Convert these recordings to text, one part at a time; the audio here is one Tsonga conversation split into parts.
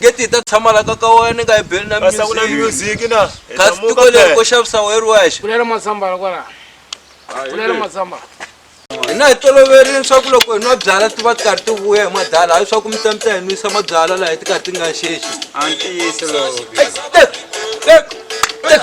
geti yi ta tshama la ka ka wena ni nga yi beli na Kasi a ku na music music na. Hi kasi tiko tlamuka leri ko phela. xavisa wehe ri wexe Kulela mazambala kwala. Kulela mazambala. hina hi toloverile leswaku loko hi nwa byala ti va ti karhi ti vuya hi madala hayi swaku mi ta mi ta hi nwisa mabyala laha ti karhi ti nga xexi A ntiyiso lowu. Ai, tek, tek, tek.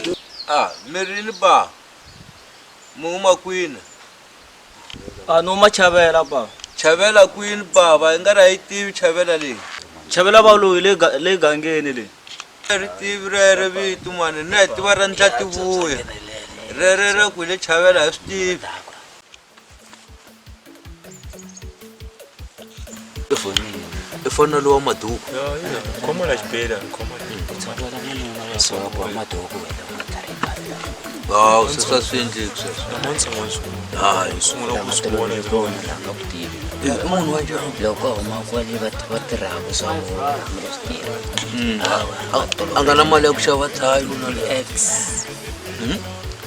A, mi rini ba? Mi huma kwini? A, ni huma Chavela ba. Chavela kwini bava? I nga ri a yi tivi Chavela leyi. Chavela ba loyi le ga- le gangeni le. A ri tivi rere vito mani, na hi tiva ra Ndlativuya. Rere ra ku hi le Chavela a hi swi tivi. ifana lowa maduku khomona xibela hawu seswa swi endleki sweswomunhu wa loko huma kwale va tirhaka swa a nga na mali ya ku xava thayo na x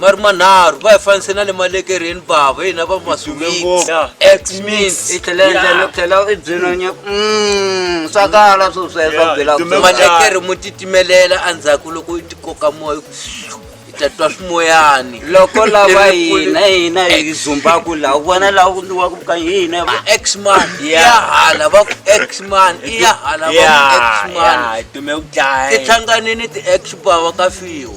ma ri manharhu va hi fanise na le malekereni bava hina va maswiitswakala mm, swoswemalekere mo titimelela endzhaku loko i tikoka moya ta twa swimoyani loko lava hina hina hi zumbaku laha u vona laha ku ndiwaku ka hina va x man ya hala va ku x man i ya hala va ku x man ti hlanganini ti x bava ka fiwa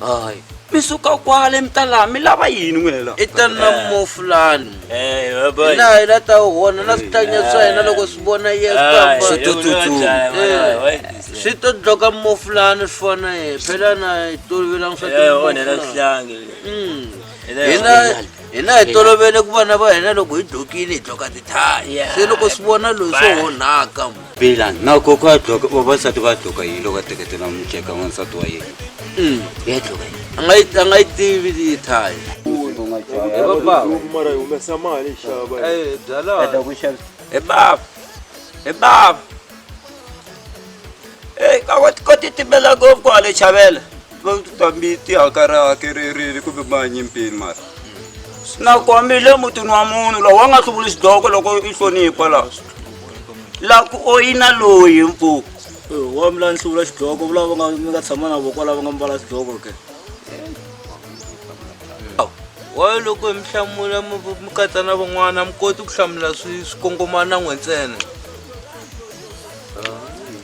hayi mi suka kwale mi ta laha mi lava yini n'wela i tani na mofulani laha hi la ta hona na switlanya swa hina loko swi vona yeswi to dloka mofulani swi fona ye phela na hi tolovelangi swa hina hi tolovele ku vana va hina loko hi dlokile hi dloka tithaya se loko swi vona loyi swo onhaka bela na koko a dloka vavasati va dloka yini loko a teketela muceka wansati wa yena mm. ya dloka yini a nga yi a nga yi tivi yi thaya mara yi humesa mali xava eh, byalata ku xavisa hi bava hi bava eyi ka wa ti koti timela ngopfu kwale chavela fambi tihaka ra hakererile kumbe manyi mpini mara swi na kombi le mutini wa munhu lowu wa nga hluvuli xidoko loko i hlonipha laha la ku oyina loyi mpfuku wa mi la ni hluvula xidoko vula va nga mi nga tshama na voko lava nga mbala xidoko ke wa loko mi hlamula mi mi katsa na van'wana mi koti ku hlamula swi swi kongomana n'we ntsena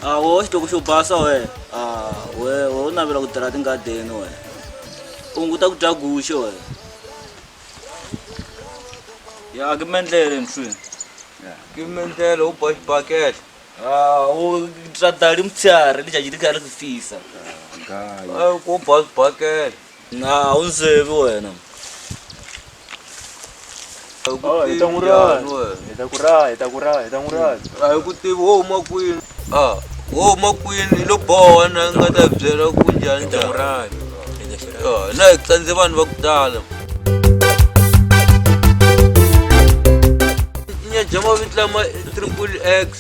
Ah, wewe xitoko xo basa we Ah, we we u navela ku tirha tingadeni we u hunguta ku dya guxe we ya ke mendlele mswini ke mendlele u ba xibakele Ah, u dya dali mutshari lijaji li kha ri ku fisa ku ba xibakele a wu ndzi yevi wena Ah, hi ta n'wi rala. Njhani wena? Hi ta ku rala, hi ta ku rala, hi ta n'wi rala. a hi ku tivi wo huma kwini a wo huma kwini hi lo boha na nga ta byela ku njhani njhani Ah, na hi tsandze vanhu va ku tala tinya bya mavitla ma triple x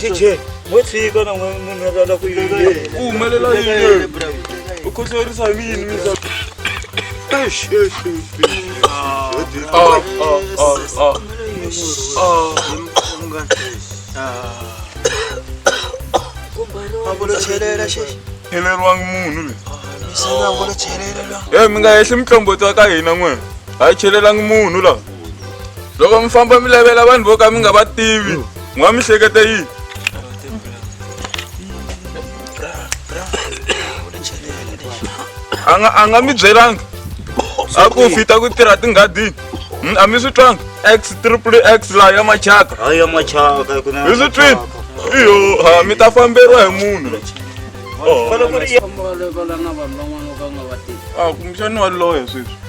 tije mo tshika na munhu a lava ku yini ku humelela yini u khohlorisa hi mini mi sa cheleriwangi munhu le e mi nga hehli mitlomboto ya ka hina n'wena a yi chelelangi munhu laha loko mi famba mi lavela vanhu vo ka mi nga va tivi mi nga mi hleketa yini anga anga mi byelanga a ku fita ku tirha tinghadini hmm, a mi swi twanga x triple x laha ya machaka hayi ya machaka mi swi twini iyo ha mi ta famberiwa hi munhu oh. a kumbexani wa loya sweswi